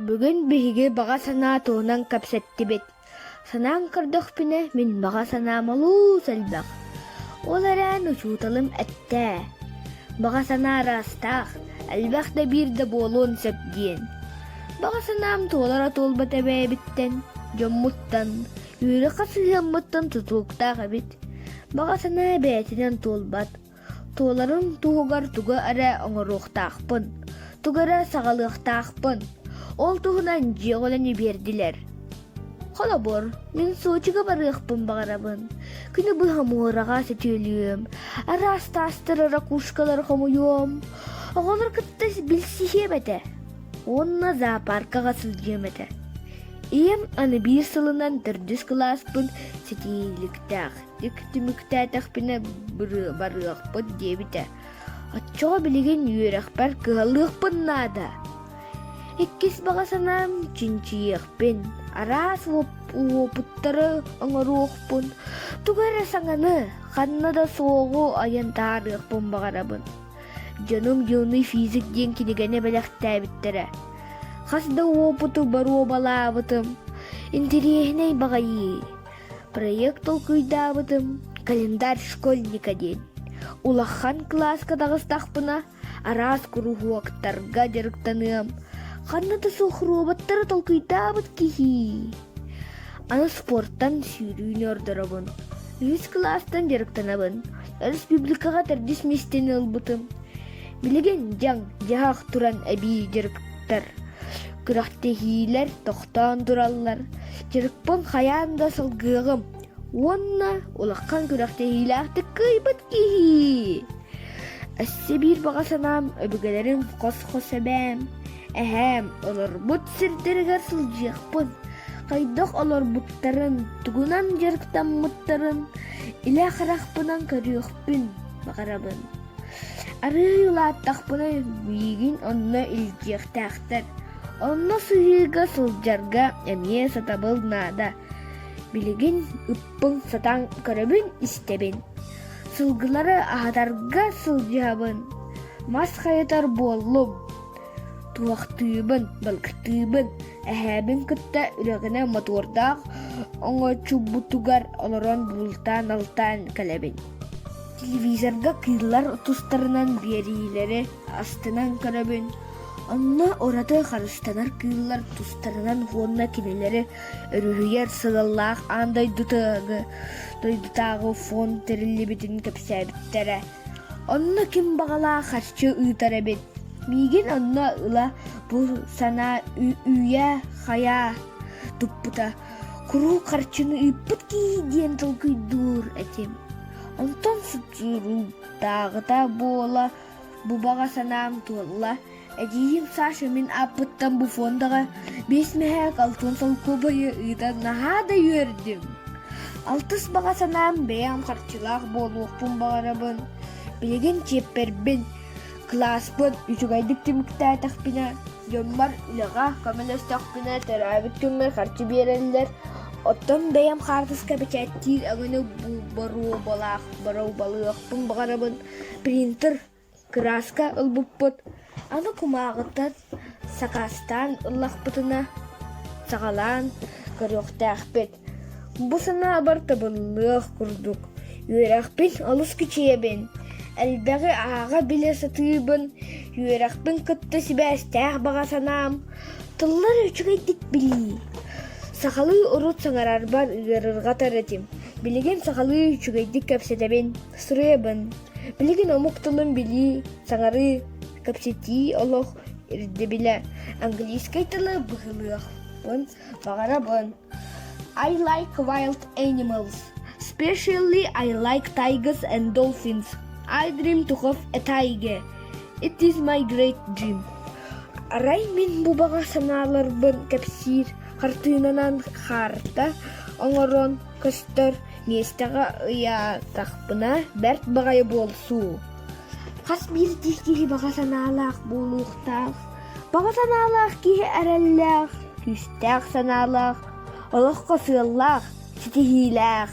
Бүгүн биһиги баҕа санаа туһунан кэпсэттибит. Санаан көрдөхпүнэ, мин баҕа санаам олус элбэх. Ол эрээри учууталым эттэ, «Баҕа санаа ыраастаах, элбэх да биир да буолуон сөп» диэн. Баҕа санаам туолара туолбат эбээбиттэн, дьоммуттан, үөрэх сыһыаммыттан тутулуктаах эбит. Баҕа санаа бэйэтинэн туолбат, Туоларын туһугар тугу эрэ оҥоруохтаахпын, тугу эрэ саҕалыахтаахпын. Ол туһунан дьиэ оҕолону биэрдилэр. Холобур, мин Сочига барыахпын баҕарабын. Күнү быһа муораҕа сөтүөлүөм, араас таастары ракушкалары хомуйуом. Оҕолор кытта билсиһиэм этэ уонна зоопаркаҕа сылдьыам этэ. Ийэм аны биир сылынан төрдүс кылааспын ситиһииликтээх Икки түмүктээтэхпинэ барыахпыт диэбитэ. Оччоҕо билигин үөрэхпэр кыһаллыахпын наада. Иккис баҕа санаам чинчийиэхпин, араас уопуттары оҥоруохпун, тугу эрэ саҥаны, ханна да суоҕу айан таарыахпын баҕарабын. Дьонум Юный физик диэн кинигэни бэлэхтээбиттэрэ. Хас да уопуту боруобалаабытым. Интириэһинэй баҕайы. Проект толкуйдаабытым «Календарь школьника» диэн. Улахан кылааска таҕыстахпына, араас куруһуоктарга дьарыктаныам. Ханна да суох роботтары толкуйдаабыт киһи. Аны спортан сүүрүүнү ордоробун. Үһүс кылаастан дьарыктанабын. Республикаҕа төрдүс миэстэни ылбытым. Билигин дьаҥ, дьаһах туран эбии дьарык көрбүттэр күрэхтэһиилэр тохтоон тураллар дьарыкпын хайаан да салгыаҕым уонна улахан күрэхтэһиилээхтик кыайбыт киһи өссө биир баҕа санаам өбүгэлэрим хос-хос эбээм эһээм олорбут сирдэригэр сылдьыахпын хайдах олорбуттарын тугунан дьарыктаммыттарын илэ харахпынан көрүөхпүн баҕарабын Арыый улааттахпына миигин онно илдьиэхтээхтэр. Онно сыһыыга сылдьарга эмиэ сатабыл наада. Билигин ыппын сатаан көрөбүн-истэбин. Сылгылары аһатарга сылдьабын. Мас хайытар буоллум. Туохтуубун, балыктыыбын, эһээбин кытта үрэҕинэ мотуордаах оҥочубутугар олорон бултаан-алтаан кэлэбин телевизорга кыыллар тустарынан биэриилэри астынан көрөбүн онно ураты харыстанар кыыллар тустарынан уонна кинилэри өрүһүйэр сыаллаах аан дойдутааҕы дойдутааҕы фон тэриллибитин кэпсээбиттэрэ онно ким баҕалаах харчы ыытар эбит миигин онно ыла бу санаа үүйэ-хайаа туппута куруук харчыны ыыппыт киһи диэн толкуйдуур этим онтон субсидиктааҕыта буола бу баҕа санаам туолла эдьиийим Саша мин ааппыттан бу фондаҕа биэс мэһээк алтын солкуобайы ыытан наһаа да үөрдүм алтыс баҕа санаам бэйэм харчылаах буолуохпун баҕарабын билигин чиэппэрбин Кылааспын үчүгэйдик түмүктээтэхпинэ, дьоммор үлэҕэ көмөлөстөхпүнэ, төрөөбүт күммэр харчы биэрэллэр, оттон бэйэм хаартыска бэчээттиир өҥөнү боруобалаах боруобалыахпын баҕарабын. Принтер кырааска ылбыппыт, аны кумааҕыттан сакаастаан ыллахпытына, саҕалаан көрүөхтээхпит. Бу санаабар табыллыах курдук, үөрэхпин олус кичэйэбин, элбэҕи ааҕа-билэ сатыыбын, үөрэхпин кытта сибээстээх баҕа санаам тыллар үчүгэйдик билии. Сахалыы урут саҥарарбар ыарырҕатар этим, билигин сахалыы үчүгэйдик кэпсэтэбин, суруйабын. Билигин омук тылын билии, саҥарыы, кэпсэтии олох ирдэбилэ, английскай тылы быһылыахпын баҕарабын. I like wild animals. Especially I like tigers and dolphins. I dream to have a tiger. It is my great dream. Арай мин бу баҕа санааларбын кэпсиир хартыынанан харта оҥорон көстөр миэстэҕэ ыйаатахпына бэрт баҕайы буолсуу. Хас биирдии киһи баҕа санаалаах буолуохтаах Баҕа санаалаах киһи эрэллээх, күүстээх санаалаах, олоххо сыаллаах, ситиһиилээх.